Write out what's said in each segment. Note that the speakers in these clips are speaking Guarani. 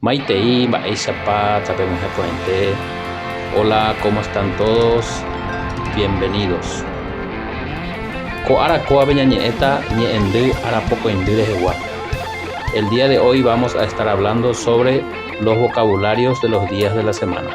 Maitei mba'éichapa tapemyeha porãite. Hola, cómo están todos? Bienvenidos. Ko ára kóvape ñañe'ẽta ñe'ẽndy arapokõindy rehegua. El día de hoy vamos a estar hablando sobre los vocabularios de los días de la semana.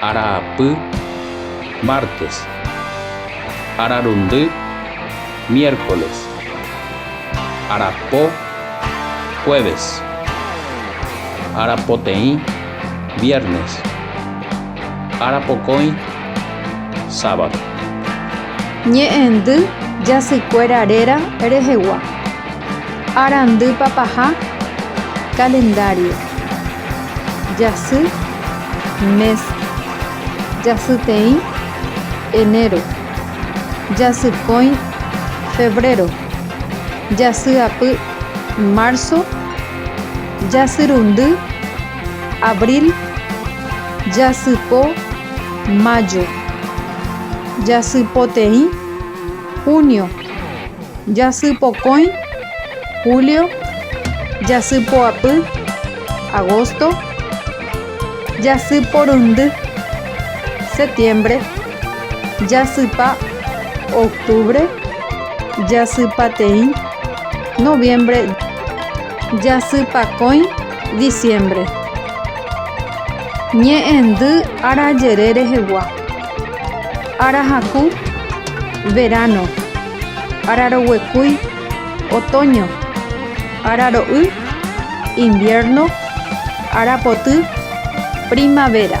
Arapy, mártes. Ararundy, miércoles. Arapo, jueves. Arapoteĩ, viernes. Arapokõi, sábado. Ñe'ẽndy jasykuéra réra rehegua. Arandypa paha, calendario. Jasy, mes. Jasyteĩ, enero. Jasykõi, febrero. Jasyapy, marzo. Jasyrundy, abril. Jasypo, mayo. Jasypoteĩ. Junio, jasy pokõi. Julio, jasy poapy. Agosto, jasy porundy. Septiembre, jasypa. Octubre, jasypateĩ. Noviembre, jasypakõi. Diciembre, ñe'ẽndy arajere rehegua. Ára haku, veráno. Ára roguekúi, otóño. Ára ro'y, inviérno. Ára poty, primavéra.